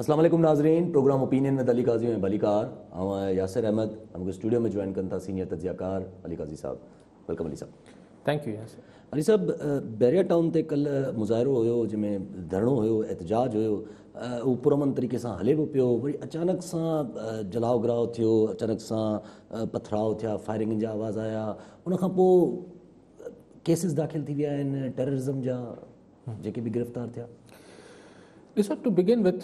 اسلام عليڪم ناظرين programme opinion with Ali Qazi ۽ ڀليڪار اوهان ياسر احمد مون کي اسٽوڊيو ۾ جوائن ڪن ٿا سينيئر تجزيه ڪار علي قاضي صاحب ويلڪم علي صاحب ٿينڪ يو ياسر علي صاحب بيريا ٽائون تي ڪلهه مظاهرو هيو جنهن ۾ ڌرڻو هيو احتجاج هيو هو پرامن طريقي سان هلي به پيو وري اچانڪ سان جلاء گراء ٿيو اچانڪ سان پٿراء ٿيا فائرنگ جا آواز آيا ان کان پوء ڪيسز داخل ٿي ويا آهن ٽيررزم جا جيڪي به گرفتار ٿيا. ڏسو ٽو بگين وٿ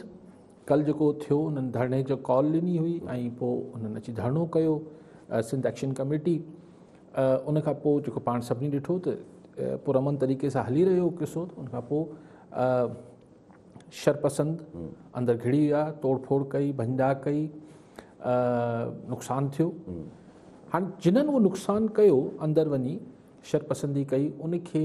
ڪل جيڪو ٿيو انهن ڌرڻي جو ڪال ڏني هئي ۽ پوء انهن اچي ڌرڻو ڪيو سنڌ ايڪشن ڪميٽي ان کان پوء جيڪو پاڻ سڀني ڏٺو ته پرامن طريقي سان هلي رهيو قصو ان کان پوء شرپسند اندر گھڙي ويا توڙ ڦوڙ ڪئي ڀنجا ڪئي نقصان ٿيو هاڻي جنن اهو نقصان ڪيو اندر وڃي شرپسندي ڪئي ان کي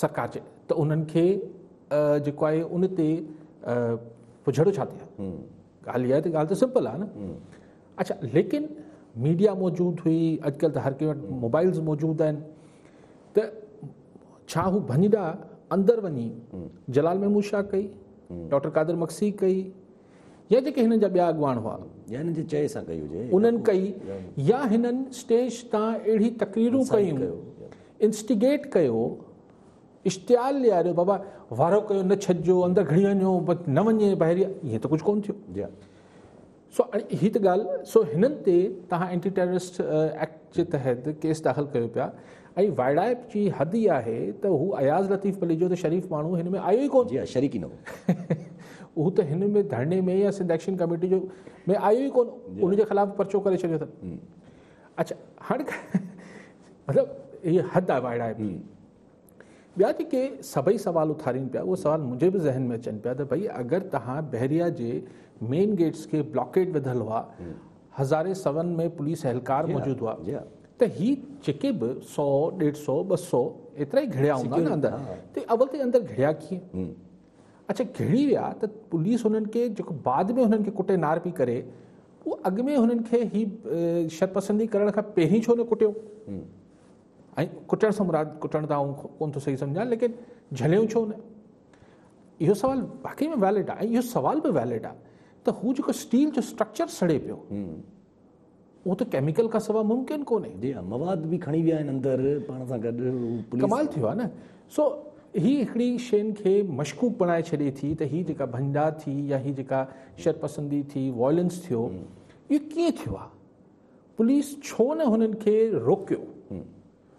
سڪاچ ته انهن کي جيڪو آهي ان تي پجهڙو ڇا ٿئي ها ڳالهه اها آهي ته ڳالهه ته سمپل آهي نه اچھا ليڪن ميڊيا موجود هئي اڄڪلھ ته هر ڪنهن وٽ موبائلز موجود آهن ته ڇا هو ڀڃ ڏا اندر وڃي جلال محمود شاهه ڪئي ڊاڪٽر قادر مگسي ڪئي يا جيڪي هنن جا ٻيا اڳواڻ هئا. يا هنن جي چئي سان ڪئي هجي. انهن ڪئي يا هنن اسٽيج تان اهڙي تقريرون ڪيون، انسٽيگيٽ ڪيو، اشتعال ڏياريو، بابا وارو ڪيو نه ڇڏجو، اندر گهڙي وڃو، نه وڃي بحريا، ائين ته ڪجهه ڪونه ٿيو. سو هي ته ڳالهه سو هنن تي توهان اينٽي ٽيررسٽ ايڪٽ جي تحت ڪيس داخل ڪيو پيا. ۽ وائڙائپ جي حد ئي آهي ته هو اياز لطيف پليجو ته شريف ماڻهو هن ۾ آيو ئي ڪونه. جي ها شريڪ ئي نه هو. هو ته هن ۾ ڌرڻي ۾ يا سنڌ ايڪشن ڪميٽي جو ۾ آيو ئي ڪونه. ان جي خلاف پرچو ڪري ڇڏيو اٿن. اڇا هاڻي مطلب هي حد آهي وائڙائپ جي. ٻيا جيڪي سڀئي سوال اٿارين پيا اهي سوال منهنجي به ذهن ۾ اچن پيا ته ڀئي اگر تهان بحريا جي مين گيٽس کي بلاڪيٽ وڌل هئا هزارين سون ۾ پوليس اهلڪار موجود هئا ته هي جيڪي به سؤ ڏيڍ سؤ ٻه سؤ ايترا ئي گهڙيا هوندا نه اندر ته اول ته اندر گهڙيا ڪيئن اڇا گهڙي ويا ته پوليس هنن کي جيڪو بعد ۾ هنن کي ڪٽي نار پي ڪري پوء اڳ ۾ هنن کي هي شرپسندي ڪرڻ کان پهرين ڇو نه ڪٽيو ۽ ڪٽڻ سان مراد ڪٽڻ ته آئون ڪون ٿو صحيح سمجهان ليڪن جهليون ڇو نه اهو سوال واقعي ۾ ويلڊ آهي ۽ اهو سوال به ويلڊ آهي ته هو جيڪو اسٽيل جو اسٽرڪچر سڙي پيو اهو ته ڪيميڪل کان سواء ممڪن ڪونهي جي ها مواد به کڻي ويا آهن اندر پاڻ سان گڏ ڪمال ٿيو آهي نه سو هي هڪڙي شين کي مشڪوڪ بڻائي ڇڏي ٿي ته هي جيڪا ڀنڊا ٿي يا هي جيڪا شر پسندي ٿي وائلنس ٿيو اهو ڪيئن ٿيو آهي پوليس ڇو نه هنن کي روڪيو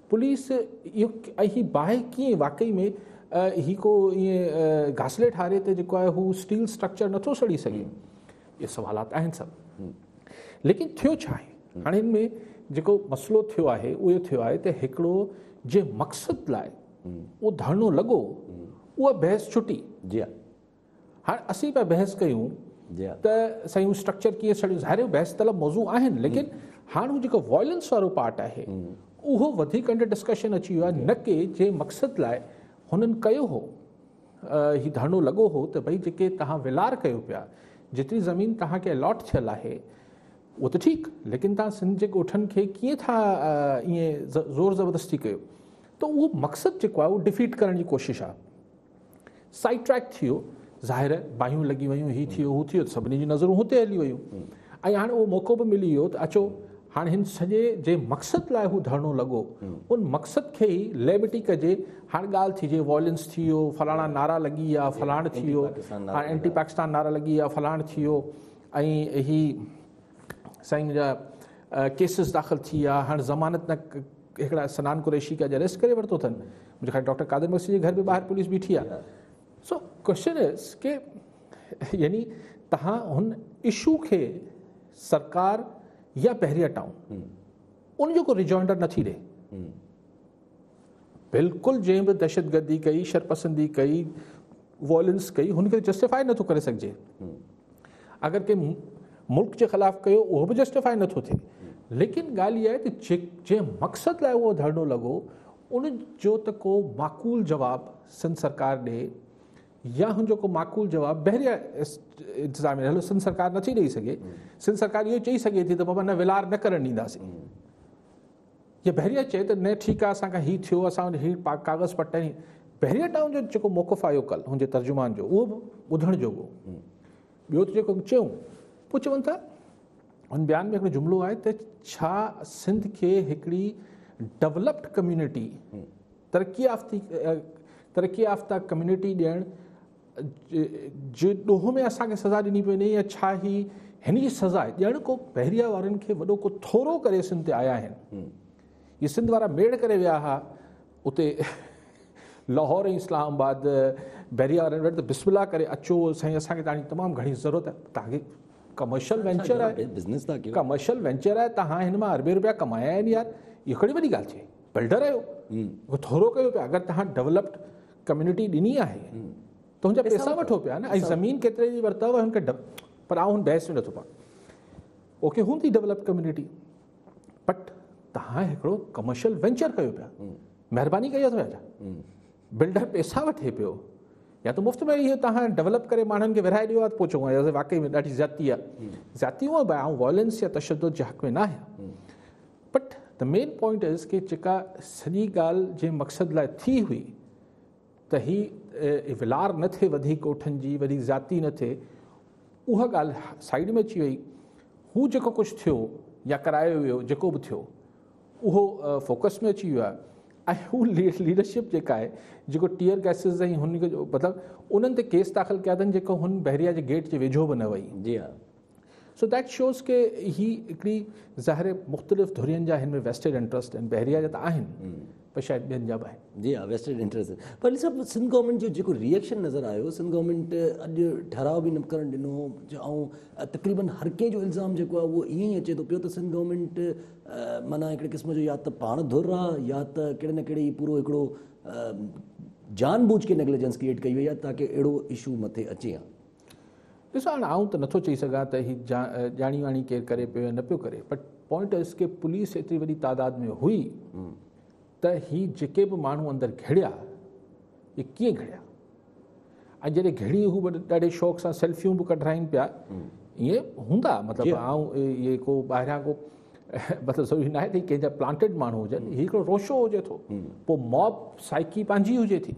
پوليس اھي باھه ڪيئن واقعي ۾ ھي ڪو ايئن گاسلي ٺاري تي جيڪو آھي ھو اسٽيل اسٽرڪچر نٿو سڙي سگھي اھي سوالات آھن سڀ ليڪن ٿيو ڇا آھي ھاڻي ان ۾ جيڪو مسئلو ٿيو آھي اھو ٿيو آھي ته ھڪڙو جنھن مقصد لاء اھو ڌرڻو لڳو اھا بحث ڇٽي جي هاڻ اسين پيا بحث ڪيون ته سائين هو اسٽرڪچر ڪيئن سڙيو ظاهر آهي بحث طلب موضوع آهن ليڪن هاڻ هو جيڪو وائلنس وارو پارٽ آهي اهو وڌيڪ انڊر ڊسڪشن اچي ويو آهي نه ڪي جنهن مقصد لاء هنن ڪيو هو هي ڌرڻو لڳو هو ته ڀئي جيڪي توهان ولار ڪيو پيا جيتري زمين توهان کي الاٽ ٿيل آهي اهو ته ٺيڪ ليڪن توهان سنڌ جي ڳوٺن کي ڪيئن ٿا ائين زور زبردستي ڪيو ته اهو مقصد جيڪو آهي اهو ڊفيٽ ڪرڻ جي ڪوشش آهي سائيڊ ٽريڪ ٿيو ظاهر باهيون لڳي ويون هي ٿيو هو ٿيو سڀني جون نظرون هتي هلي ويون ۽ هاڻي اهو موقعو به ملي ويو ته اچو هاڻي هن سڄي جنهن مقصد لاء هو ڌرڻو لڳو ان مقصد کي ئي ليبرٽي ڪجي هاڻي ڳالهه ٿي جي وائلنس ٿي ويو فلاڻا نعرا لڳي ويا فلاڻ ٿي ويو هاڻي اينٽي پاڪستان نعرا لڳي ويا فلاڻ ٿي ويو ۽ هي سائين جا ڪيسز داخل ٿي ويا هاڻي ضمانت نه هڪڙا سنان قريشي کي اڄ اريسٽ ڪري ورتو اٿن منهنجي خيال ڊاڪٽر قادر مگسي جي گهر به ٻاهر پوليس بيٺي آهي سو ڪوشچن از ڪي يعني تهان هن اشو کي سرڪار يا پهريا ٽائون ان جو ڪو ريجوائنڊر نٿي ڏي بلڪل جنهن به دهشت گردي ڪئي شرپسندي ڪئي وائلنس ڪئي هن کي جسٽيفائي نٿو ڪري سگهجي اگر ڪنهن ملڪ جي خلاف ڪيو اهو به جسٽيفائي نٿو ٿئي ليڪن ڳالهه اها آهي ته جنهن مقصد لاء اهو ڌرڻو لڳو ان جو ته ڪو معقول جواب سنڌ سرڪار ڏي يا هن جو ڪو معقول جواب بحريا انتظام رهيو سنڌ سرڪار نٿي ڏيئي سگهي سنڌ سرڪار اهو چئي سگهي ٿي ته بابا نه ولار نه ڪرڻ ڏينداسين جي بحريه چئي ته ني ٺيڪ آ اسان کان هي ٿيو اسان وٽ هي ڪاغذ پٽ ۽ بحريه ٽائون جو جيڪو موقف آيو ڪل هن جي ترجمان جو اهو به ٻڌڻ جوڳو ٻيو ته جيڪو چيون پوء چون ٿا هن بيان ۾ هڪڙو جملو آهي ته ڇا سنڌ کي هڪڙي ڊولپڊ ڪميونٽي ترقي يافته ترقي يافته ڪميونٽي ڏيڻ جي ڏوهه ۾ اسان کي سزا ڏني پئي وڃي يا ڇا هي هن جي سزا آهي ڄڻ ڪو بحريا وارن کي وڏو ڪو ٿورو ڪري سنڌ تي آيا آهن هي سنڌ وارا ميڙ ڪري ويا هئا اتي لاهور ۽ اسلام آباد بحريا وارن وٽ بسم الله ڪري اچو سائين اسان کي تاڻي تمام گهڻي ضرورت آهي توهان کي ڪمرشل وينچر آهي بزنس ٿا ڪيو ڪمرشل وينچر آهي توهان هن مان اربين روپيا ڪمايا آهن يار اهو ڪهڙي وڏي ڳالهه چي بلڊر آهيو ٿورو ڪيو پيا اگر توهان ڊيولپڊ ڪميونٽي ڏني آهي تنهنجا پيسا وٺو پيا نه ۽ زمين ڪيتري جي ورتو آهي هن کي پر آئون هن بحث ۾ نٿو پوان اوڪي هوندي ڊيولپ ڪميونٽي بٽ تهان هڪڙو ڪمرشل وينچر ڪيو پيا مهرباني ڪئي اٿو يا بلڊر پيسا وٺي پيو يا ته مفت ۾ اهو تهان ڊيولپ ڪري ماڻهن کي ورهائي ڏيو آهي پوچو واقعي ۾ ڏاڍي زيادتي آهي زيادتي هو به آئون وائلنس يا تشدد جي حق ۾ نه آهيان but the main point is ڪي جيڪا سڄي ڳالهه جنهن مقصد لاء ٿي هئي ته هي ولار نه ٿئي وڌيڪ ڳوٺن جي وڏي ذاتي نه ٿئي اها ڳالهه سائيڊ ۾ اچي وئي هو جيڪو ڪجهه ٿيو يا ڪرايو ويو جيڪو به ٿيو اهو فوڪس ۾ اچي ويو آهي ۽ هو ليڊرشپ جيڪا آهي جيڪو ٽيئر گيسز ۽ هن مطلب انهن تي ڪيس داخل ڪيا اٿن جيڪو هن بحريا جي گيٽ جي ويجهو به نه وئي جي ها سو ديٽ شوز ڪي هي هڪڙي ظاهر مختلف ڌرين جا هن ۾ ويسٽيڊ انٽرسٽ آهن بحريا جا ته آهن پر شايد ٻين جا به آهن جي ها ويسٽيڊ انٽرسٽ پر ان سبب سنڌ گورنمنٽ جو جيڪو ريئيڪشن نظر آيو سنڌ گورنمنٽ اڄ ٺهراء به نه ڪرڻ ڏنو جو ۽ تقريبن هر ڪنهن جو الزام جيڪو آهي اهو ائين ئي اچي ٿو پيو ته سنڌ گورنمنٽ معنيٰ هڪڙي قسم جو يا ته پاڻ ڌر آهي يا ته ڪهڙي نه ڪهڙي پورو هڪڙو جان بوجھ کي نيگليجنس ڪريئيٽ ڪئي وئي آهي تاڪه اهڙو اشو مٿي اچي ها ڏسو هاڻ آئون ته نٿو چئي سگهان ته هي ڄاڻي واڻي ڪير ڪري پيو يا نه پيو ڪري بٽ پوائنٽ از ڪي پوليس ايتري وڏي تعداد ۾ هئي ته هي جيڪي به ماڻهو اندر گهڙيا هي ڪيئن گهڙيا ۽ جڏهن گهڙي هو ڏاڍي شوق سان سيلفيون به ڪڍرائين پيا ائين هوندا مطلب آئون اهي ڪو ٻاهران ڪو مطلب ضروري ناهي ته ڪنهن جا پلانٽيڊ ماڻهو هجن هي هڪڙو روشو هجي ٿو پوء موب سائيڪي پنهنجي هجي ٿي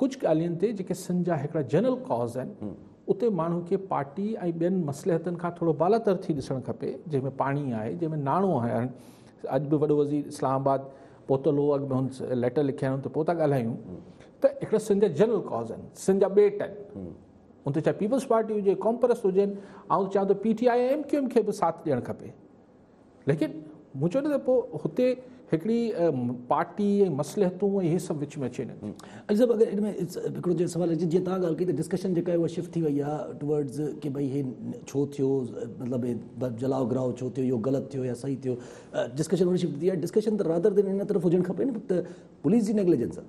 ڪجهه ڳالهين تي جيڪي سنڌ جا هڪڙا جنرل ڪاز آهن اتي ماڻهو کي پارٽي ۽ ٻين مصلحتن کان ٿورو بالاتر ٿي ڏسڻ کپي جنهن ۾ پاڻي آهي جنهن ۾ ناڻو آهي اڄ به وڏو وزير اسلام آباد پهتل هو اڳ ۾ هن ليٽر لکيا آهن ته پوء ٿا ڳالهايون ته هڪڙا سنڌ جا جنرل ڪاز آهن سنڌ جا ٻيٽ آهن ان تي چاهي پيپلز پارٽي هجي ڪامپرس هجن آئون چاهيان ته P T I M Q M کي به ساٿ ڏيڻ کپي ليڪن مون چيو نه ته پوء هتي هڪڙي پارٽي ۽ مصلحتون ۽ هي سڀ وچ ۾ اچي نٿي. اڄ صاحب اگر ان ۾ هڪڙو جي سوال اچي جيئن توهان ڳالهه ڪئي ته ڊسڪشن جيڪا آهي اها شفٽ ٿي وئي آهي ٽوورڊز ڪي ڀئي هي ڇو ٿيو مطلب هي جلاء گراء ڇو ٿيو اهو غلط ٿيو يا صحيح ٿيو ڊسڪشن هوڏي شفٽ ٿي آهي ڊسڪشن ته رادر دين ان طرف هجڻ کپي نه ته پوليس جي نيگليجنس آهي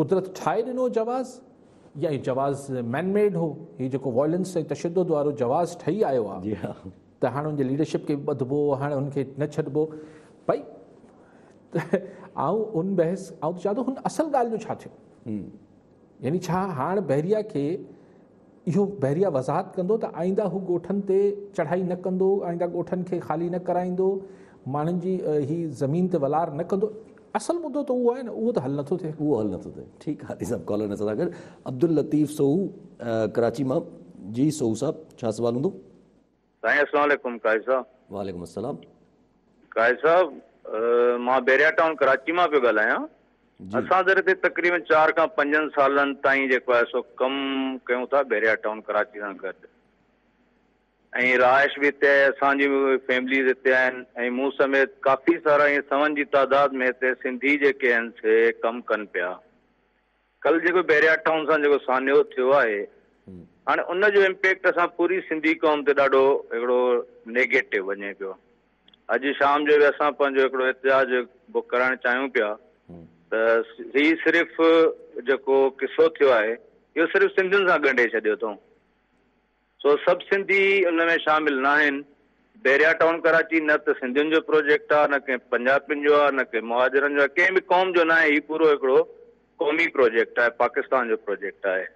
قدرت ٺاهي ڏنو جواز يا هي جواز مين ميڊ هو هي جيڪو وائلنس ۽ تشدد وارو جواز ٺهي آيو آ ته هاڻ ان جي ليڊرشپ کي به ٻڌبو هاڻ ان کي نه ڇڏبو ڀائي آئون ان بحث آئون ته چاهيان ٿو هن اصل ڳالهه جو ڇا ٿيو يعني ڇا هاڻ بحريا کي اهو بحريه وضاحت ڪندو ته آئينده هو ڳوٺن تي چڙهائي نه ڪندو، آئينده ڳوٺن کي خالي نه ڪرائيندو، ماڻهن جي هي زمين تي ولار نه ڪندو. اصل مدو ته اهو آهي نه، اهو ته حل نٿو ٿئي. اهو حل نٿو ٿئي. ٺيڪ آهي صاحب ڪالر اسان سان گڏ عبداللطيف سوهو ڪراچي مان جي سوهو صاحب ڇا سوال هوندو. سائين اسلام عليڪم قائد صاحب. وعليڪم السلام. قائد صاحب مان بحريا ٽائون ڪراچي مان پيو ڳالهايان اسان در تي تقريبن چار کان پنجن سالن تائين جيڪو آهي سو ڪم ڪيون ٿا بحريا ٽائون ڪراچي سان گڏ ۽ رهائش به هتي آهي اسان جي فيمليز هتي آهن ۽ مون سميت ڪافي سارا ائين سون جي تعداد ۾ هتي سنڌي جيڪي آهن سي ڪم ڪن پيا ڪل جيڪو بحريا ٽائون سان جيڪو سانحو ٿيو آهي هاڻي ان جو امپيڪٽ اسان پوري سنڌي قوم تي ڏاڍو هڪڙو نيگيٽو وڃي پيو اڄ شام جو به اسان پنهنجو هڪڙو احتجاج بڪ ڪرائڻ چاهيون پيا ته هي صرف جيڪو قصو ٿيو آهي اهو صرف سنڌين سان ڳنڍي ڇڏيو اٿئون سو سڀ سنڌي ان ۾ شامل ناهن. بحريا ٽائون ڪراچي نه ته سنڌين جو پروجيڪٽ آ نه ڪنهن پنجابين جو آ نه ڪنهن مهاجرن جو آ ڪنهن به قوم جو ناهي هي پورو هڪڙو قومي پروجيڪٽ آهي پاڪستان جو پروجيڪٽ آهي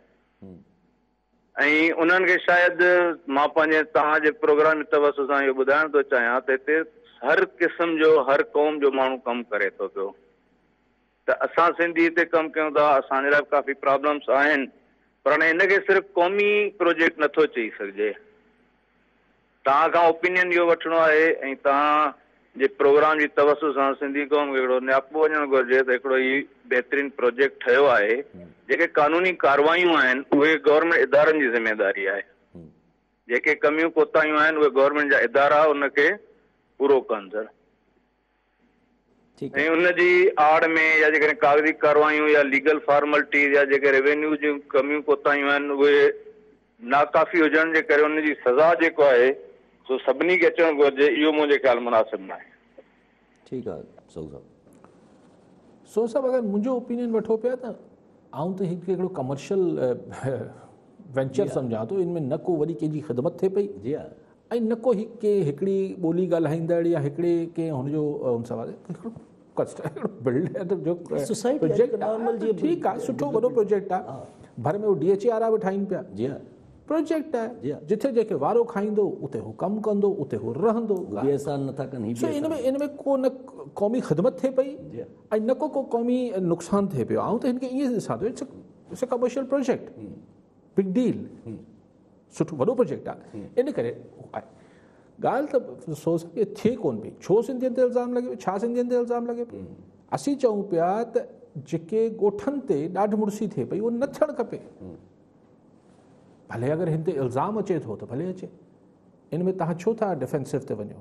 ۽ انهن کي شايد مان پنهنجي توهان جي پروگرام جي توسط سان اهو ٻڌائڻ ٿو چاهيان ته هتي هر قسم جو هر قوم جو ماڻهو ڪم ڪري ٿو پيو ته اسان سنڌي تي ڪم ڪيون ٿا اسان جي لاء به ڪافي پرابلمس آهن پر هاڻي ان کي صرف قومي پروجيڪٽ نه ٿو چئي سگهجي توهان کان اوپينين اهو وٺڻو آهي ۽ توهان جي پروگرام جي توسط سان سنڌي قوم کي هڪڙو نياپو وڃڻ گهرجي ته هڪڙو هي بهترين پروجيڪٽ ٺهيو آهي جيڪي قانوني ڪاروايون آهن اهي گورنمينٽ ادارن جي ذميداري آهي جيڪي ڪميون ڪوتاهيون آهن اهي گورنمينٽ جا ادارا ان کي پورو ڪندڙ ۽ ان جي آڙ ۾ يا جيڪڏهن ڪاغذي ڪارروايون يا ليگل فارملٽيز يا جيڪي ريونيو جون ڪميون ڪوتاهيون آهن اهي ناڪافي هجڻ جي ڪري ان جي سزا جيڪو آهي سو سڀني کي اچڻ گهرجي اهو منهنجي خيال مناسب ناهي. ٺيڪ آ سوز صاحب. سوز صاحب اگر منهنجو اوپينين وٺو پيا ته آئون ته هي هڪڙو ڪمرشل وينچر سمجهان ٿو ان ۾ نه ڪو وڏي ڪنهن جي خدمت ٿئي پئي ۽ نه ڪو هڪ ڪنهن هڪڙي ٻولي ڳالهائيندڙ يا هڪڙي ڪنهن هن جو ان سان ٺيڪ آهي سٺو وڏو پروجيڪٽ آهي ڀر ۾ ڊي ايڇ اي وارا به ٺاهين پيا پروجيڪٽ آهي جتي جنهن کي وارو کائيندو اتي هو ڪم ڪندو اتي هو رهندو ان ۾ ڪو نه قومي خدمت ٿئي پئي ۽ نه ڪو ڪو قومي نقصان ٿئي پيو آئون ته هن کي ائين ڏسان ٿو it's it's a commercial project big deal سٺو وڏو پروجيڪٽ آهي ان ڪري آهي ڳالهه ته افسوس ڪي ٿئي ڪون پئي ڇو سنڌين تي الزام لڳي پيو ڇا سنڌين تي الزام لڳي پيو اسين چئون پيا ته جيڪي ڳوٺن تي ڏاڍ مڙسي ٿئي پئي اهو نه ٿيڻ کپي ڀلي اگر هن تي الزام اچي ٿو ته ڀلي اچي ان ۾ تهان ڇو ٿا ڊيفينسو تي وڃو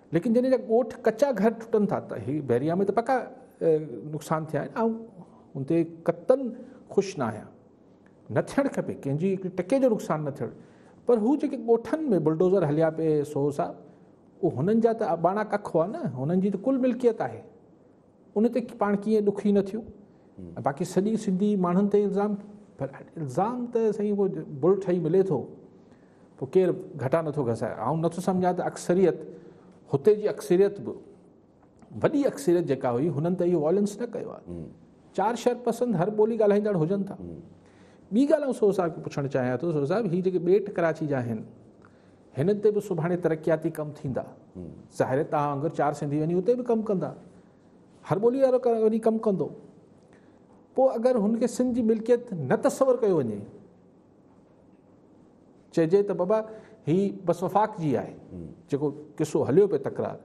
ليڪن جڏهن جا ڳوٺ ڪچا گهر ٽٽن ٿا ته هي بحريا ۾ ته پڪا نقصان ٿيا آهن آئون ان تي قطعن خوش نه آهيان نه ٿيڻ کپي ڪنهن جي هڪ ٽڪي جو نقصان نه ٿيڻ پر هو جيڪي ڳوٺن ۾ بلڊوزر هليا پئي سو صاحب اهو هنن جا ته اباڻا ڪک هئا نه هنن جي ته ڪل ملڪيت آهي ان تي پاڻ ڪيئن ڏکي نه ٿيون ۽ باقي سڄي سنڌي ماڻهن تي الزام پر الزام ته سائين اهو بل ٺهي ملي ٿو پوء ڪير گهٽا نٿو گسائي آئون نٿو سمجهان ته اڪثريت هتي جي اڪثريت به وڏي اڪثريت جيڪا هئي هنن ته اهو وائلنس نه ڪيو آهي چار شهر پسند هر ٻولي ڳالهائيندڙ هجن ٿا ٻي ڳالهه آئون سو صاحب کي پڇڻ چاهيان ٿو سو صاحب هي جيڪي ٻيٽ ڪراچي جا آهن هن تي به سڀاڻي ترقياتي ڪم ٿيندا. ظاهر آهي توهان وانگر چار سنڌي وڃي اتي به ڪم ڪندا. هر ٻولي وارو وڃي ڪم ڪندو. پوء اگر هن کي سنڌ جي ملڪيت نه تصور ڪيو وڃي چئجي ته بابا هي بس وفاق جي آهي جيڪو قصو هليو پيو تڪرار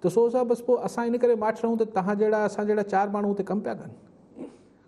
ته سو صاحب بس پوء اسان ان ڪري ماٺ رهون ته تهان جهڙا اسان جهڙا چار ماڻهو اتي ڪم پيا ڪن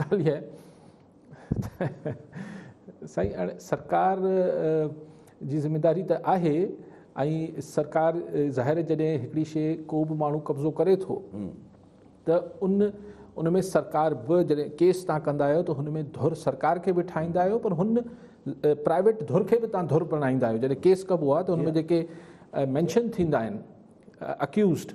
ڳالهه اها آهي ته سائين هاڻي سرڪار جي ذميداري ته آهي ۽ سرڪار ظاهر جڏهن هڪڙي شيء ڪو به ماڻهو قبضو ڪري ٿو ته ان ان ۾ سرڪار به جڏهن ڪيس تان ڪندا آهيو ته هن ۾ ڌر سرڪار کي به ٺاهيندا آهيو پر هن پرائيويٽ ڌر کي به تان ڌر بڻائيندا آهيو جڏهن ڪيس ڪبو آهي ته هن ۾ جيڪي مينشن ٿيندا آهن اڪيوزڊ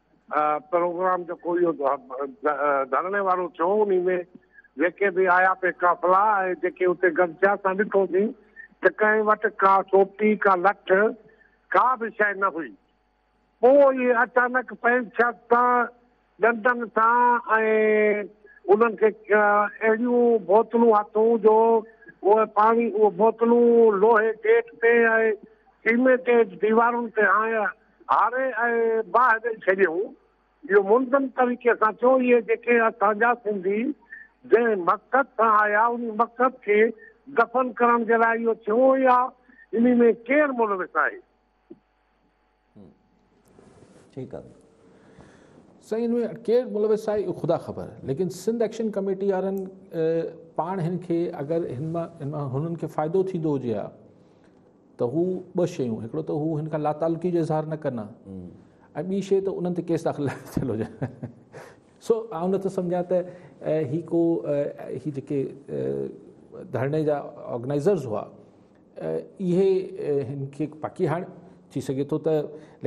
پروگرام جيڪو اهو ڌرڻي وارو ٿيو انهي ۾ جيڪي به آيا پي قافلا ۽ جيڪي اتي گڏ ٿيا اسان ڏٺوسين ته ڪنهن وٽ ڪا سوٽي ڪا لٺ ڪا به شيء نه هئي پوء اهي اچانڪ پنهنجي شخص سان ڏنڊن سان ۽ انهن کي اهڙيون بوتلون هٿون جو اهي پاڻي اهي بوتلون لوهي گيٽ تي ۽ سيمينٽيڊ ديوارن تي هنيا هاري ۽ باهه ڏئي ڇڏيائون. اهو منظم طريقي سان ٿيو. اهي جيڪي اسان جا سنڌي جنهن مقصد سان آيا انهي مقصد کي دفن ڪرڻ جي لاء اهو ٿيو يا انهي ۾ ڪير ملوث آهي؟ ٺيڪ آهي سائين ان ۾ ڪير ملوث آهي اهو خدا خبر ليڪن سنڌ ايڪشن ڪميٽي وارن پاڻ هن کي اگر هن مان هنن کي فائدو ٿيندو هجي ها ته هو ٻه شيون هڪڙو ته هو هن کان لاتعلقي جو اظهار نه ڪن ها ۽ ٻي شيء ته انهن تي ڪيس داخل نه ٿيل هجن سو آئون نٿو سمجهان ته هي ڪو هي جيڪي ڌرڻي جا آرگنائزرز هئا اهي هن کي باقي هاڻ ٿي سگهي ٿو ته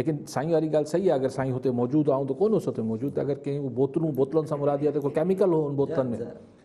ليڪن سائين واري ڳالهه صحيح آهي اگر سائين هتي موجود آئون ته ڪونه سو ته موجود اگر ڪنهن بوتلون بوتلن سان مراد يا ته ڪو ڪيميڪل هو ان بوتلن ۾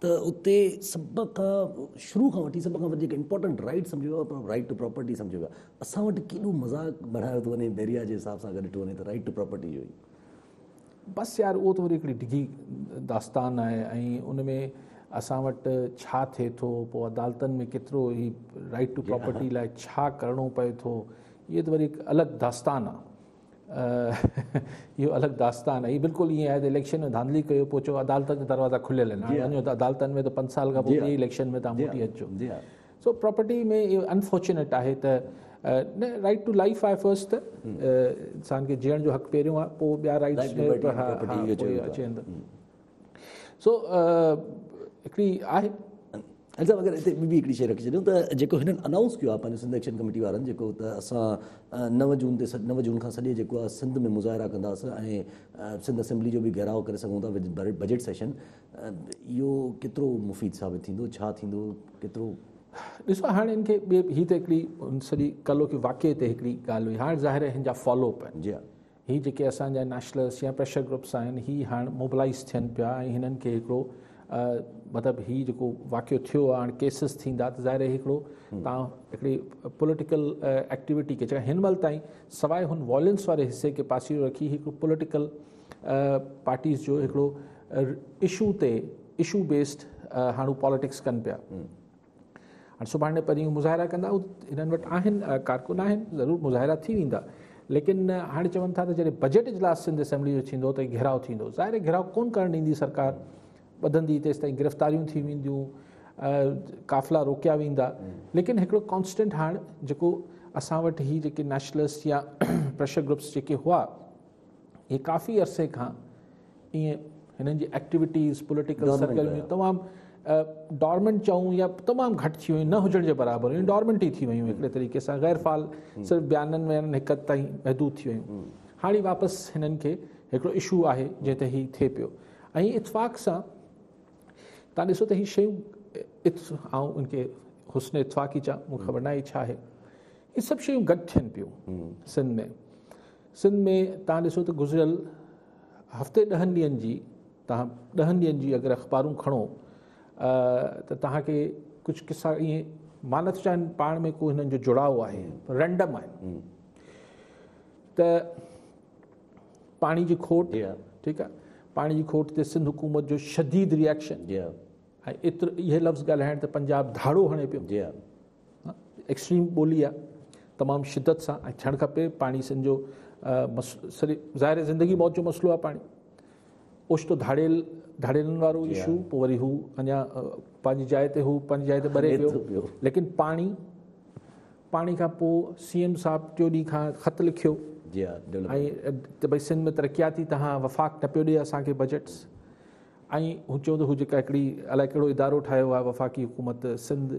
ته اتي سڀ کان شروع کان وٺي سڀ کان وڌيڪ امپورٽنٽ رائيٽ سمجهيو ويو آهي رائيٽ ٽو پراپرٽي سمجهيو ويو آهي اسان وٽ ڪيڏو مذاق بڻايو ٿو وڃي بحريا جي حساب سان اگر ڏٺو وڃي ته رائيٽ ٽو پراپرٽي جو ئي بس يار اهو ته وري هڪڙي ڊگهي داستان آهي ۽ ان ۾ اسان وٽ ڇا ٿئي ٿو پوء عدالتن ۾ ڪيترو هي رائيٽ ٽو پراپرٽي لاء ڇا ڪرڻو پئي ٿو اهي ته وري هڪ الڳ داستان آهي اهو الڳ داستان آهي بلڪل ائين آهي ته اليڪشن ۾ ڌانڌلي ڪيو پوء چئو عدالتن جا دروازا کليل آهن هاڻي وڃو ته عدالتن ۾ ته پنج سال کان پوء ٻئي اليڪشن ۾ تان موٽي اچو سو پراپرٽي ۾ اهو انفارچونيٽ آهي ته نه رائٽ ٽو لائف آهي فرسٽ ته انسان کي جيئڻ جو حق پهريون آهي پوء ٻيا رائٽس اچي ويندا سو هڪڙي آهي ايگزام اگر هتي ٻي هڪڙي شيء رکي ڇڏيون ته جيڪو هنن انائونس ڪيو آهي پنهنجو سنڌ ايڪشن ڪميٽي وارن جيڪو ته اسان نو جون تي نو جون کان سڄي جيڪو آهي سنڌ ۾ مظاهرا ڪنداسين ۽ سنڌ اسيمبلي جو به گهيراء ڪري سگهون ٿا بجيٽ سيشن اهو ڪيترو مفيد ثابت ٿيندو ڇا ٿيندو ڪيترو ڏسو هاڻي هن کي هي ته هڪڙي سڄي ڪلو کي واقعي تي هڪڙي ڳالهه هئي هاڻي ظاهر هن جا فالو اپ آهن جي هي جيڪي اسان جا نيشلرس يا پريشر گروپس آهن هي هاڻ موبلائيز ٿين پيا ۽ هنن کي هڪڙو مطلب هي جيڪو واقعو ٿيو آهي هاڻ ڪيسز ٿيندا ته ظاهر هڪڙو تان هڪڙي پوليٽيڪل ايڪٽيويٽي کي جيڪا هن مهل تائين سواء هن وائلنس واري حصي کي پاسيرو رکي هڪ پوليٽيڪل پارٽيز جو هڪڙو اشو تي اشو بيسڊ هاڻو پاليٽڪس ڪن پيا هاڻ سڀاڻي پرينهن مظاهرا ڪندا هنن وٽ آهن ڪارڪن آهن ضرور مظاهرا ٿي ويندا ليڪن هاڻي چون ٿا ته جڏهن بجيٽ اجلاس سنڌ اسيمبلي جو ٿيندو ته گهيراء ٿيندو ظاهر گهيراء ڪون ڪرڻ ڏيندي سرڪار ٻڌندي تيس تائين گرفتاريون ٿي وينديون قافلا روڪيا ويندا ليڪن هڪڙو ڪانسٽنٽ هاڻ جيڪو اسان وٽ هي جيڪي نيشنلسٽ يا پريشر گروپس جيڪي هئا اهي ڪافي عرصي کان ائين هنن جي ايڪٽيوٽيز پوليٽيڪل سرڪل ۾ تمام ڊارمنٽ چئون يا تمام گهٽ ٿي ويون نه هجڻ جي برابر هيون ڊارمنٽ ئي ٿي ويون هڪڙي طريقي سان غير فعال صرف بيانن ۾ هڪ حد تائين محدود ٿي ويون هاڻي واپس هنن کي هڪڙو اشو آهي جنهن تي هي ٿئي پيو ۽ اتفاق سان تان ڏسو ته هي شيون آئون ان کي حسن اتفاقي چا مون خبر ناهي ڇا آهي هي سڀ شيون گڏ ٿين پيون سنڌ ۾ سنڌ ۾ تان ڏسو ته گذريل هفتي ڏهن ڏينهن جي توهان ڏهن ڏينهن جي اگر اخبارون کڻو ته توهان کي ڪجهه قصا ائين مان نٿو چاهيان پاڻ ۾ ڪو هنن جو جڙاو آهي رينڊم آهن ته پاڻي جي کوٽ ٺيڪ آهي پاڻي جي کوٽ تي سنڌ حڪومت جو شديد ريئڪشن ۽ ايتر اهي لفظ ڳالهائڻ ته پنجاب ڌاڙو هڻي پيو ايڪسٽريم ٻولي آ تمام شدت سان ۽ ٿيڻ کپي پاڻي سن جو سري ظاهر زندگي موت جو مسئلو آ پاڻي اوشتو ڌاڙيل ڌاڙيلن وارو ايشو پو وري هو اڃا پنهنجي جاء تي هو پنهنجي جاء تي ٻري پيو ليڪن پاڻي پاڻي کان پو سي ايم صاحب ٽيو ڏينهن کان خط لکيو جي ها ته بھي سنڌ ۾ ترقياتي تهان وفاق نه پيو ڏي اسان کي بجيٽس ۽ هو چيو ته هو جيڪا هڪڙي الائي ڪهڙو ادارو ٺاهيو آهي وفاقي حڪومت Sindh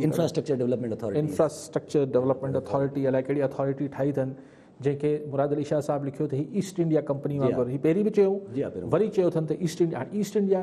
infrastructure development authority infrastructure development authority الائي ڪهڙي اٿارٽي ٺاهي اٿن جنهن کي مراد علي شاهه صاحب لکيو ته هي ايسٽ انڊيا ڪمپني وانگر هي پهرين به چيو وري چيو اٿن ته ايسٽ انڊيا ايسٽ انڊيا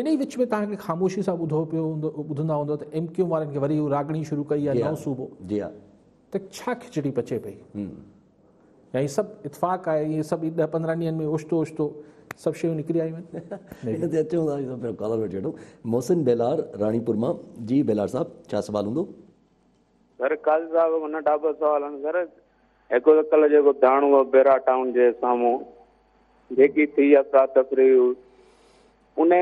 انهي وچ ۾ توهان کي خاموشي سان ٻڌو پيو هوندو ٻڌندا هوندو ته ايم ڪيو ايم وارن کي وري اهو راڳڻي شروع ڪئي آهي نئون صوبو ته ڇا کچڙي پچي پئي يا هي سڀ اتفاق آهي هي سڀ ڏهه پندرهن ڏينهن ۾ اوچتو اوچتو سڀ شيون نڪري آيون آهن محسن ڀيلار راڻيپور مان جي ڀيلار صاحب ڇا سوال هوندو؟ سر قاضي صاحب کان ننڍا ٻه سوال آهن سر هڪ ته ڪلهه جيڪو داڻو بيرا ٽائون جي سامهون جيڪي ٿي افرا تفري ان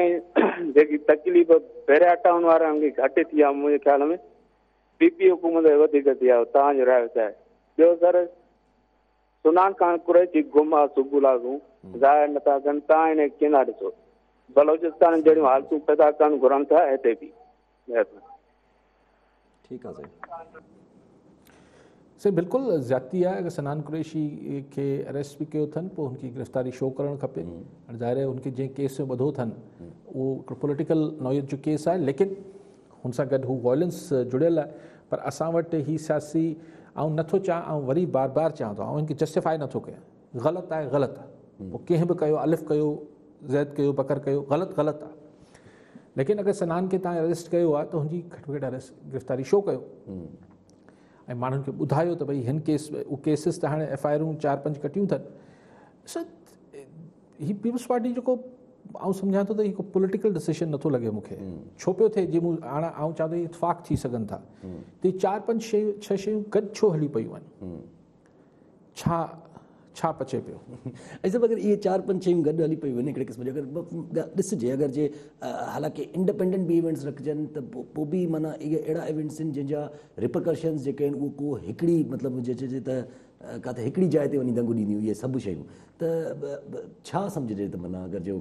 جيڪي تڪليف بيرا ٽائون وارن کي گهٽ ٿي آ منهنجي خيال ۾ پي پي حڪومت وڌيڪ ٿي آ تان جو رايو چاهي ٻيو سر سنان خان قريشي گم آ صبح لازون ظاهر نٿا ڪن تان هن کي ڪيندا ڏسو بلوچستان جهڙيون حالتون پيدا ڪرڻ گهرن ٿا هتي به ٺيڪ آ سائين سائين بلڪل زيادتي آهي اگر سنان قريشي کي اريسٽ به ڪيو اٿن پوء هن کي گرفتاري شو ڪرڻ کپي هاڻي ظاهر آهي هن کي جنهن ڪيس ۾ ٻڌو اٿن اهو هڪڙو پوليٽيڪل نوعيت جو ڪيس آهي ليڪن هن سان گڏ هو وائلنس جڙيل آهي پر اسان وٽ هي سياسي آئون نٿو چاهيان آئون وري بار بار چيان ٿو آئون هن کي جسٽيفائي نٿو ڪيان غلط آهي غلط پوء ڪنهن به ڪيو الف ڪيو زيد ڪيو بکر ڪيو غلط غلط آهي ليڪن اگر سنان کي تان اريسٽ ڪيو آهي ته هن جي گهٽ ۾ گهٽ اريسٽ گرفتاري شو ڪيو ۽ ماڻهن کي ٻڌايو ته ڀئي هن ڪيس اهو ڪيسز ته هاڻي ايف آئي آرون چار پنج ڪٽيون اٿن هي پيپلز پارٽي جيڪو آئون سمجھان ٿو ته هڪ پوليٽيڪل ڊسيشن نٿو لڳي مون کي ڇو پيو ٿئي جي مون هاڻ آئون چاهيان ٿو اتفاق ٿي سگھن ٿا ته چار پنج شيون ڇهه شيون گڏ ڇو هلي پيون آهن ڇا ڇا پچي پيو. اي صاحب اگر اهي چار پنج شيون گڏ هلي پيون وڃن هڪڙي قسم جي اگر ڳالهه ڏسجي اگر جي حالانڪه انڊپينڊنٽ به ايونٽس رکجن ته پو به معنيٰ اهي اهڙا ايونٽس آهن جن جا رپرڪرشنز جيڪي آهن اهو ڪو هڪڙي مطلب جي چئجي ته ڪاٿي هڪڙي جاء تي وڃي دنگ ڏينديون اهي سڀ شيون ته ڇا سمجهجي ته معنيٰ اگر جو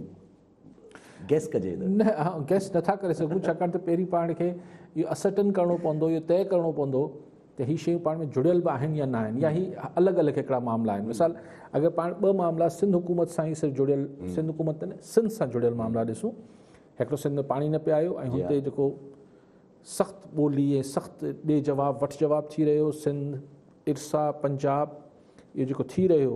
گيس ڪجي ته. نه آئون گيس نه ٿا ڪري سگهون ڇاڪاڻ ته پهرين پاڻ کي اهو اسرٽن ڪرڻو پوندو اهو طئي ڪرڻو پوندو ته هي شيون پاڻ ۾ جڙيل به آهن يا نه آهن يا هي الڳ الڳ هڪڙا معاملا آهن مثال اگر پاڻ ٻه معاملا سنڌ حڪومت سان ئي صرف جڙيل سنڌ حڪومت ته نه سنڌ سان جڙيل معاملا ڏسون هڪڙو سنڌ ۾ پاڻي نه پي آيو ۽ هتي جيڪو سخت ٻولي ۽ سخت ڏي جواب وٺ جواب ٿي رهيو سنڌ ارسا پنجاب اهو جيڪو ٿي رهيو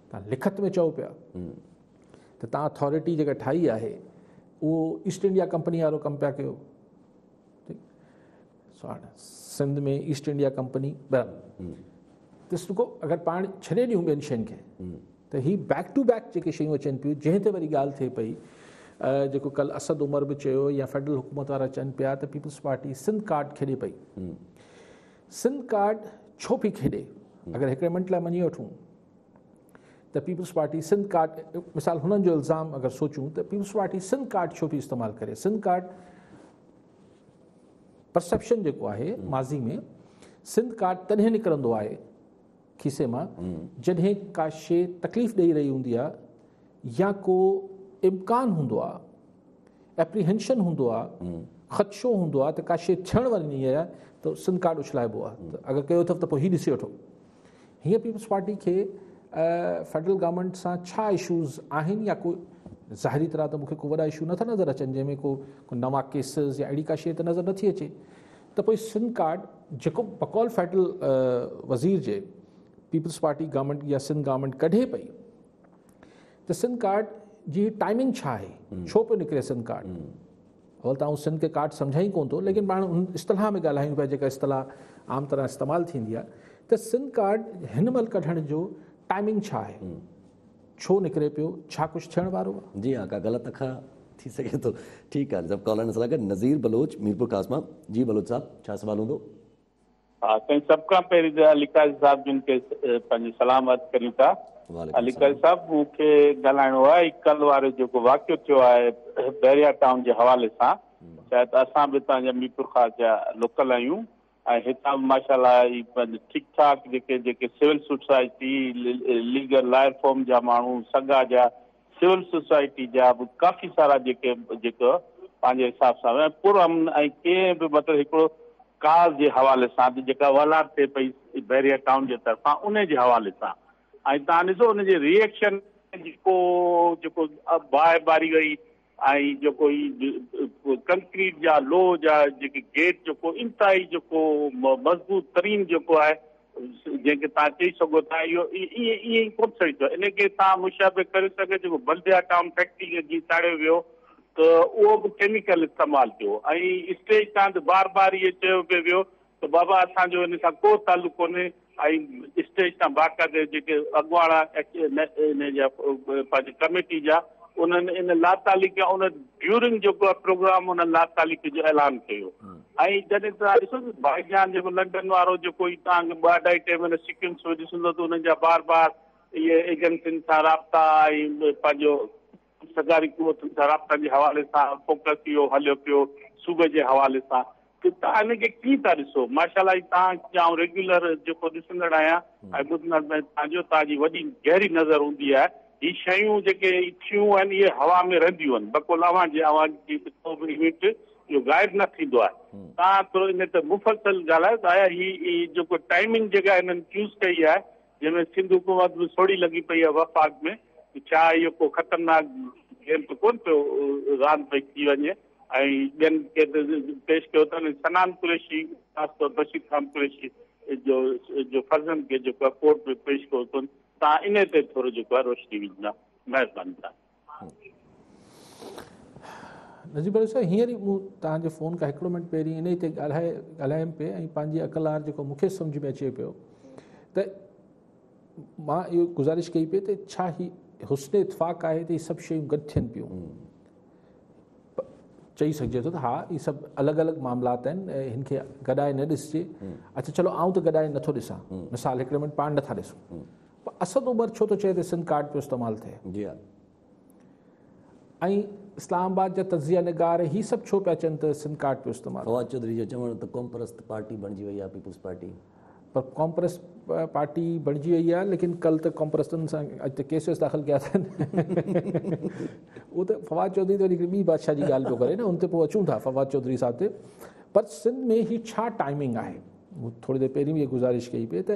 توهان لکت ۾ چئو پيا ته توهان اٿارٽي جيڪا ٺاهي آهي اهو ايسٽ انڊيا ڪمپني وارو ڪم پيا ڪيو سنڌ ۾ ايسٽ انڊيا ڪمپني ڏس رکو اگر پاڻ ڇڏي ڏيون ٻين شين کي ته هي بيڪ ٽو بيڪ جيڪي شيون اچن پيون جنهن تي وري ڳالهه ٿئي پئي جيڪو ڪل اسد عمر به چيو يا فيڊرل حڪومت وارا چئن پيا ته پيپلز پارٽي سنڌ ڪارڊ کيڏي پئي سنڌ ڪارڊ ڇو پي کيڏي اگر هڪڙي منٽ لاء مڃي وٺون ته پيپلز پارٽي سنڌ ڪارڊ مثال هنن جو الزام اگر سوچون ته پيپلز پارٽي سنڌ ڪارڊ ڇو ٿي استعمال ڪري سنڌ ڪارڊ پرسپشن جيڪو آهي ماضي ۾ سنڌ ڪارڊ تڏهن نڪرندو آهي کيسي مان جڏهن ڪا شي تڪليف ڏيئي رهي هوندي آ يا ڪو امڪان هوندو آ اپريهنشن هوندو آ خدشو هوندو آ ته ڪا شي ٿيڻ واري نهي آ ته سنڌ ڪارڊ اڇلائبو آ اگر ڪيو اٿو ته پوء هي ڏسي وٺو هيئن پيپلز پارٽي کي فيڊرل گورنمينٽ سان ڇا اشوز آهن يا ڪو ظاهري طرح ته مونکي ڪو وڏا اشو نٿا نظر اچن جنهن ۾ ڪو نوان ڪيسز يا اهڙي ڪا شيء ته نظر نٿي اچي ته پوء سنڌ ڪارڊ جيڪو بقول فيڊرل وزير جي پيپلز پارٽي گورنمينٽ يا سنڌ گورنمينٽ ڪڍي پئي ته سنڌ ڪارڊ جي ٽائمنگ ڇا آهي ڇو پيو نڪري سنڌ ڪارڊ اول ته آئون سنڌ کي ڪاٺ سمجهان ئي ڪونه ٿو ليڪن پاڻ ان اصطلاح ۾ ڳالهايون پيا جيڪا اصطلاح عام طرح استعمال ٿيندي آهي ته سنڌ ڪاٺ هن مهل ڪڍڻ جو ٽائمنگ ڇا آهي ڇو نڪري پيو ڇا ڪجهه ٿيڻ وارو آهي جي ها ڪا غلط اکر ٿي سگهي ٿو ٺيڪ آهي سڀ ڪالرن سان گڏ نظير بلوچ ميرپور خاص مان جي بلوچ صاحب ڇا سوال هوندو. ها سائين سڀ کان پهرين ته علي قاضي صاحب جن کي پنهنجي سلام عرض ڪريون ٿا علي قاضي صاحب مون کي ڳالهائڻو آهي ڪل وارو جيڪو واقعو ٿيو آهي بحريا ٽائون جي حوالي سان ڇا ته اسان به هتان جا ميرپور خاص جا لوڪل آهيون ۽ هتان به ماشاءالله هي ٺيڪ ٺاڪ جيڪي جيڪي civil society legal lawyer forum جا ماڻهو سگا جا سول سوسائٽي جا به ڪافي سارا جيڪي جيڪو پنهنجي حساب سان ۽ پر امن ۽ ڪنهن به مطلب هڪڙو ڪاز جي حوالي سان ته جيڪا والار ٿئي پئي بحريا ٽائون جي طرفان انهي جي حوالي سان ۽ تان ڏسو ان جي ريئڪشن جيڪو جيڪو باهه ٻاري وئي ۽ جيڪو هي ڪنڪريٽ جا لوهه جا جيڪي گيٽ جيڪو انتهائي جيڪو مضبوط ترين جيڪو آهي جنهن کي توهان چئي سگهو ٿا اهو ائين ائين ڪو به سهي ٿو ان کي توهان مشابه ڪري سگهو جيڪو بلديا ٽائون فيڪٽري کي جيئن ساڙيو ويو ته اهو به ڪيميڪل استعمال ٿيو ۽ اسٽيج تان ته بار بار اهو چيو پئي ويو ته بابا اسان جو ان سان ڪو تعلق ڪونهي ۽ اسٽيج تان باقاعده جيڪي اڳواڻ ان جا پنهنجي ڪميٽي جا انهن ان لاتعلقي ان ڊيورنگ جيڪو پروگرام ان لاتعلقي جو اعلان ڪيو ۽ جڏهن توهان ڏسو ته بائي جان جيڪو لنڊن وارو جيڪو هي توهان کي ٻه اڍائي ٽي مهينا سيڪوينس ۾ ڏسندو ته انهن جا بار بار اهي ايجنسين سان رابطا ۽ پنهنجو سرڪاري قوتن سان رابطن جي حوالي سان فوڪس اهو هليو پيو صوبي جي حوالي سان ته توهان انهن کي ڪيئن ٿا ڏسو ماشاءالله هي توهان جي آئون ريگيولر جيڪو ڏسندڙ آهيان ۽ ٻڌندڙ ۾ توهان جو توهان جي وڏي گهري نظر هوندي آهي هي شيون جيڪي ٿيون آهن اهي هوا ۾ رهنديون آهن بقول اوهان جي اوهان جي ڪو به ايونٽ جو غائب نه ٿيندو آهي تان ٿورو ان تي مفصل ڳالهايو ته آيا هي جيڪو ٽائمنگ جيڪا هنن چوز ڪئي آهي جنهن ۾ سنڌ حڪومت به سوڙي لڳي پئي آهي وفاق ۾ ته ڇا اهو ڪو خطرناڪ گيم ته ڪون پيو راند پئي ٿي وڃي ۽ ٻين پيش ڪيو اٿن سنان قريشي خاص طور بشير خان قريشي جو جو فرزند کي جيڪو ڪورٽ ۾ پيش ڪيو اٿن تان ان تي ٿورو جيڪو روشني وجهندا مهرباني تان نجيب علي صاحب هينئر ئي مون توهان جي فون کان هڪڙو منٽ پهرين انهي تي ڳالهائي ڳالهايم پئي ۽ پنهنجي اڪلار جيڪو مون کي سمجھ ۾ اچي پيو ته مان اهو گزارش ڪئي پئي ته ڇا هي حسن اتفاق آهي ته هي سڀ شيون گڏ ٿين پيون چئي سگھجي ٿو ته ها هي سڀ الڳ الڳ معاملات آهن هن کي گڏائي نه ڏسجي اچھا چلو آئون ته گڏائي نٿو ڏسان مثال هڪڙي منٽ پاڻ نٿا ڏسون پر اسد عمر ڇو ٿو چئي ته سم ڪارڊ پيو استعمال ٿئي؟ جي ها. ۽ اسلام آباد جا تجزيه نگار هي سڀ ڇو پيا چون ته سم ڪارڊ پيو استعمال ٿئي؟ فواد چوڌري جو چوڻ ته قومپرست پارٽي بڻجي وئي آهي پيپلز پارٽي. پر قومپرست پارٽي بڻجي وئي آهي ليڪن ڪل ته قومپرستن سان اڄ ته ڪيسز داخل ڪيا اٿن. اهو ته فواد چوڌري ته هڪڙي ٻي بادشاهه جي ڳالهه پيو ڪري نه ان تي پوء اچون ٿا فواد چوڌري صاحب تي. پر سنڌ ۾ هي ڇا ٽائمنگ آهي؟ مون ٿوري دير پهرين به اها گذارش ڪئي پئي ته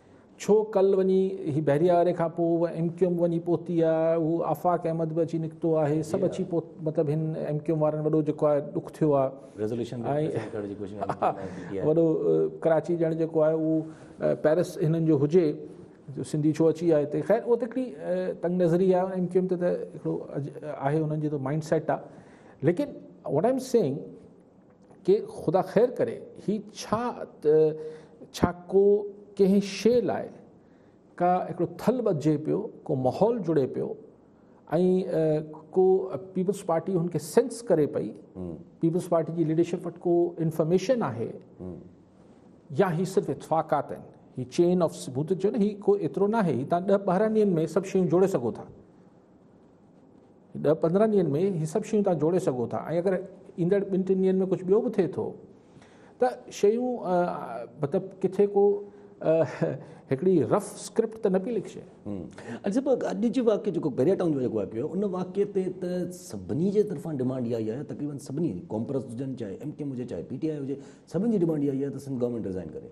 ڇو ڪل وڃي هي بحريه واري کان پوء ايم ڪيو ايم وڃي پهتي آ هو آفاق احمد به اچي نڪتو آهي سڀ اچي پهت مطلب هن ايم ڪيو ايم وارن وڏو جيڪو آهي ڏک ٿيو آ ريزوليوشن وڏو ڪراچي ڄڻ جيڪو آهي اهو پيرس هنن جو هجي جو سنڌي ڇو اچي آ هتي خير اهو ته هڪڙي تنگ نظري آ ايم ڪيو ايم ته هڪڙو آهي هنن جي ته مائنڊ سيٽ آ ليڪن واٽ آئم سيئنگ ڪي خدا خير ڪري هي ڇا ته ڇا ڪو ڪنهن شيء لاء ڪا هڪڙو ٿل ٻڌجي پيو ڪو ماحول جڙي پيو ۽ ڪو پيپلز پارٽي هن کي سينس ڪري پئي پيپلز پارٽي جي ليڊرشپ وٽ ڪو انفارميشن آهي يا هي صرف اتفاقات آهن هي چين آف ثبوت جو نه هي ڪو ايترو نه آهي هي تان ڏهه ٻارهن ڏينهن ۾ سڀ شيون جوڙي سگهو ٿا ڏهه پندرهن ڏينهن ۾ هي سڀ شيون توهان جوڙي سگهو ٿا ۽ اگر ايندڙ ٻن ٽن ڏينهن ۾ ڪجهه ٻيو به ٿئي ٿو ته شيون مطلب ڪٿي ڪو هڪڙي رف اسڪرپٽ ته نه پئي لکجي اڄ به اڄ جي واقعي جيڪو بيريا ٽائون جو جيڪو واقعي هو ان واقعي تي ته سڀني جي طرفان ڊيمانڊ اها ئي آهي تقريبن سڀني قوم پرست هجن چاهي ايم ڪيم هجي چاهي پي ٽي آء هجي سڀني جي ڊيمانڊ اها ئي آهي ته سنڌ گورنمينٽ رزائن ڪري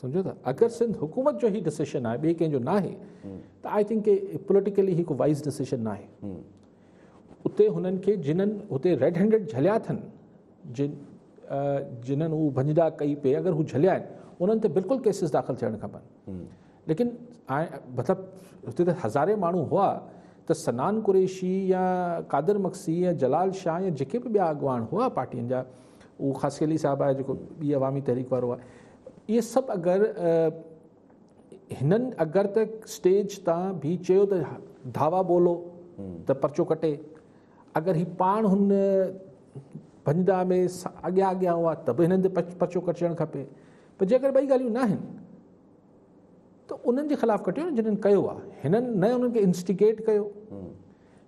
سمجهو ٿا اگر سنڌ حڪومت جو هي ڊسيشن آهي ٻئي ڪنهن جو ناهي ته آئي ٿنڪ ڪي پوليٽيڪلي هڪ وائز ڊسيشن ناهي اتي هنن کي جنن هتي ريڊ هينڊيڊ جھليا اٿن جن جنن هو ڀنجدا ڪئي پئي اگر هو جھليا آهن انهن تي بلڪل ڪيسز داخل ٿيڻ کپن ليڪن مطلب هتي ته هزارين ماڻهو هئا ته سنان قريشي يا قادر مکسي يا جلال شاهه يا جيڪي به ٻيا اڳواڻ هئا پارٽين جا اهو خاصي علي صاحب آهي جيڪو ٻي عوامي تحريڪ وارو آهي اهي سڀ اگر هنن اگر ته اسٽيج تان بي چيو ته ڌاوا ٻولو ته پرچو ڪٽي اگر هي پاڻ هن ڀنجدا ۾ اڳيان اڳيان هئا ته به هنن تي پرچو ڪٽجڻ کپي پر جيڪر ٻئي ڳالهيون ناهن ته انهن جي خلاف ڪٽيو جنهن ڪيو آهي هنن نه انهن کي انسٽيگيٽ ڪيو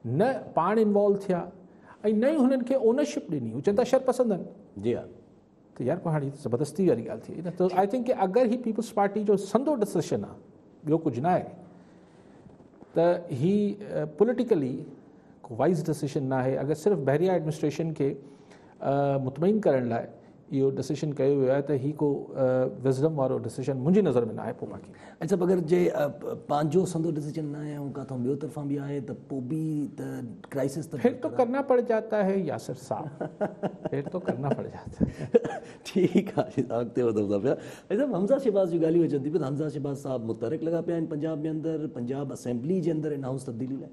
نه پاڻ انوالو ٿيا ۽ نه ئي هنن کي اونرشپ ڏني هو چئن ٿا شر پسند آهن جي ها ته يار پوء هاڻي زبردستي واري ڳالهه ٿي ته آء ٿنڪ ڪي اگر هي پيپلز پارٽي جو سندو ڊسيشن آ ٻيو ڪجهه نه آهي ته هي پوليٽيڪلي وائز ڊسيشن نه آهي اگر صرف بحريا ايڊمنسٽريشن کي مطمئن ڪرڻ لاء اهو ڊسيشن ڪيو ويو آهي ته هي ڪو وزڊم وارو ڊسيشن منهنجي نظر ۾ ناهي پوء باقي. اڄ صاحب اگر جي پنهنجو سندو ڊسيشن ناهي ۽ ڪاٿئون ٻيو طرفان به آهي ته پوء به ته ڪرائسس ته پھر تو ڪرنا پڙ جاتا هي ياسر صاحب پھر تو ڪرنا پڙ جاتا هي. ٺيڪ آ حاجي صاحب اڳتي وڌو ٿا پيا حاجي صاحب حمزه شھباز جون ڳالهيون اچن ٿيون ته حمزه شھباز صاحب متحرڪ لڳا پيا آهن پنجاب ۾ اندر پنجاب اسيمبلي جي اندر ان هائوس تبديلي لاء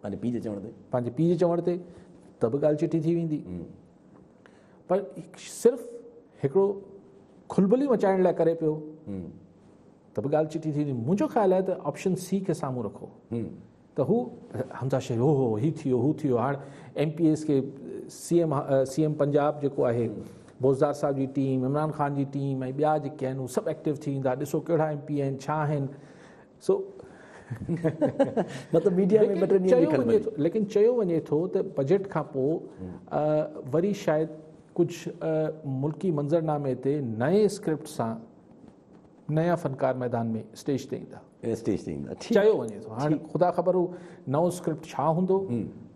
پنهنجي پيء جي چوڻ تي. پنهنجي پيء جي چوڻ تي ته به ڳالهه چٽي ٿي ويندي. پر صرف هڪڙو کلبلي مچائڻ لاء ڪري پيو ته به ڳالهه چٽي ٿي ويندي. منهنجو خيال آهي ته آپشن سي کي سامهون رکو ته هو حمزه شيخ هو هو هي ٿي ويو هو ٿي ويو هاڻ ايم پي ايز کي C M C M Punjab جيڪو آهي بوزدار صاحب جي ٽيم عمران خان جي ٽيم ۽ ٻيا جيڪي آهن هو سڀ ايڪٽو ٿي ويندا ڏسو ڪهڙا ايم پي آهن ڇا آهن سو مطلب ميڊيا ۾ ٻه ٽي ڏينهن لکيل ملي ٿو. ليڪن چيو وڃي ٿو ته بجيٽ کان پوء وري شايد ڪجهه ملڪي منظرنامي تي نئين اسڪرپٽ سان نيا فنڪار ميدان ۾ اسٽيج تي ايندا. اسٽيج تي ايندا. چيو وڃي ٿو. هاڻي خدا خبر هو نئون اسڪرپٽ ڇا هوندو.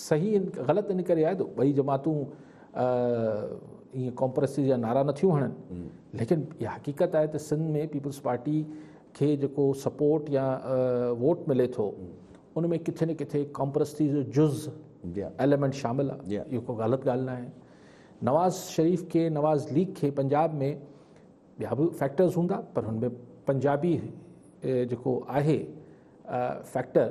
صحيح غلط ان ڪري آهي ته ٻئي جماعتون ائين ڪامپرسز جا نعرا نه ٿيون هڻن ليڪن اها حقيقت آهي ته سنڌ ۾ پيپلز پارٽي کي جيڪو سپورٽ يا ووٽ ملي ٿو ان ۾ ڪٿي نه ڪٿي ڪامپرسز جو جز ايليمنٽ شامل آهي اهو کو غلط ڳالهه نه آهي نواز شريف کي نواز ليگ کي پنجاب ۾ ٻيا به فیکٹرز هوندا پر هن ۾ پنجابي جيڪو آهي فیکٹر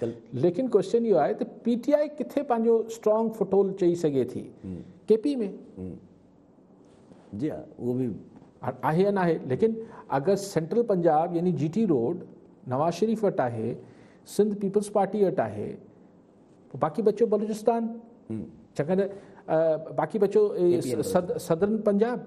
ته ليڪن ڪوشچن اهو آهي ته پي ٽي آء ڪٿي پنهنجو اسٽرانگ فٽ هولڊ چئي سگهي ٿي ڪي پي ۾ جي ها اهو به آهي يا ناهي ليڪن اگر سينٽرل پنجاب يعني جي ٽي روڊ نواز شريف وٽ آهي سنڌ پيپلز پارٽي وٽ آهي باقي بچو بلوچستان چڪر باقي بچو صدرن پنجاب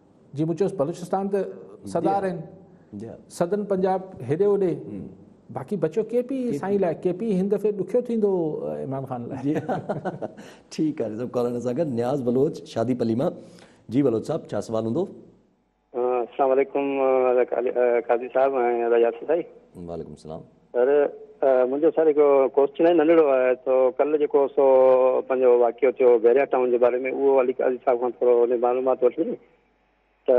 جي مون چيس بلوچستان ته سدار آهن سدن پنجاب هيڏي هوڏي باقي بچيو ڪي پي سائين لاء ڪي پي هن دفعي ڏکيو ٿيندو عمران خان لاء ٺيڪ آهي سڀ ڪالرن سان گڏ نياز بلوچ شادي پلي مان جي بلوچ صاحب ڇا سوال هوندو السلام عليڪم قاضي صاحب ۽ ياسر ڀائي وعليڪم السلام سر منهنجو سر هڪ ڪوشچن آهي ننڍڙو آهي تو ڪل جيڪو سو پنهنجو واقعو ٿيو بحريا ٽائون جي باري ۾ اهو علي قاضي صاحب کان ٿورو ان معلومات وٺي ته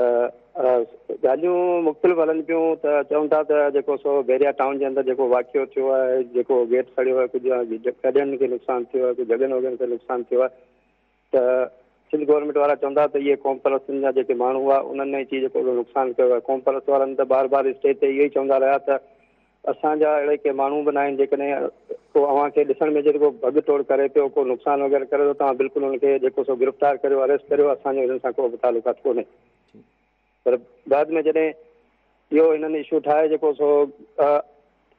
ڳالهيون مختلف هلن پيون ته چون ٿا ته جيڪو سو بحريا ٽائون جي اندر جيڪو واقعو ٿيو آهي جيڪو گيٽ سڙيو آهي ڪجهه گاڏين کي نقصان ٿيو آهي ڪجهه جڳهن وڳهن کي نقصان ٿيو آهي ته سنڌ گورنمينٽ وارا چوندا ته اهي قوم پرستن جا جيڪي ماڻهو هئا انهن ايڇ اي جو ڪهڙو نقصان ڪيو آهي قوم پرست وارن ته بار بار اسٽيج تي اهو ئي چوندا رهيا ته اسان جا اهڙي ڪي ماڻهو به ناهن جيڪڏهن ڪو اوهان کي ڏسڻ ۾ اچي ته ڪو ڀڳ ٽوڙ ڪري پيو ڪو نقصان وغيره ڪري ٿو توهان بلڪل ان کي جيڪو سو گرفتار ڪريو اريسٽ ڪريو اسان جو هنن سان ڪو به تعلقات ڪونهي پر بعد ۾ جڏهن اهو هنن اشو ٺاهي جيڪو سو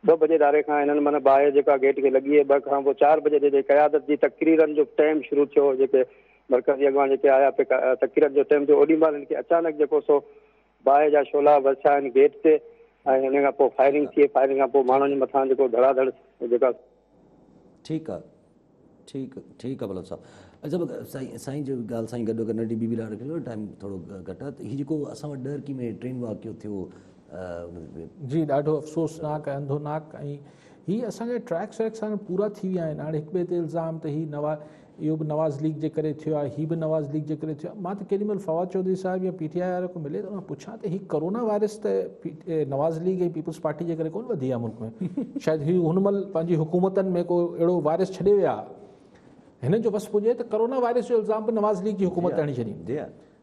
ٻه بجي ڌاري کان هنن معنيٰ باهه جيڪا گيٽ کي لڳي ٻه کان پوء چار بجي جي قيادت جي تقريرن جو ٽيم شروع ٿيو جيڪي مرڪزي اڳواڻ جيڪي آيا پي تقريرن جو ٽيم جو اوڏي مهل هن کي اچانڪ جيڪو سو باهه جا شولا ورسيا آهن گيٽ تي ۽ هن کان پوء فائرنگ ٿي فائرنگ کان پوء ماڻهن جي مٿان جيڪو ڌڙا ڌڙ جيڪا ٺيڪ آ ٺيڪ ٺيڪ آ بلوچ صاحب اچا سائين سائين جو ڳالھ سائين گڏ ڪرڻ ڊي بي بي لاء رکي ڇڏيو ٽائيم ٿورو گھٽ آ ته هي جيڪو اسان وٽ ڏهرڪي ۾ ٽرين واقعو ٿيو جي ڏاڍو افسوسناڪ ۽ انڌوناڪ ۽ هي اسان جا ٽريڪس ويڪس هاڻي پورا ٿي ويا آهن هاڻي هڪ ٻئي تي الزام ته هي نواز اهو به نواز ليگ جي ڪري ٿيو آهي، هي به نواز ليگ جي ڪري ٿيو آهي، مان ته ڪيڏي مهل فواد چوڌري صاحب يا پي ٽي آء وارن کان ملي ته ان کان پڇان ته هي ڪورونا وائرس ته نواز ليگ ۽ پيپلز پارٽي جي ڪري ڪونه وڌي آهي ملڪ ۾ شايد هي هن مهل پنهنجي حڪومتن ۾ ڪو اهڙو وائرس ڇڏي ويا هنن جو وس پڄي ته ڪورونا وائرس جو الزام به نواز ليگ جي حڪومت تي هڻي ڇڏين.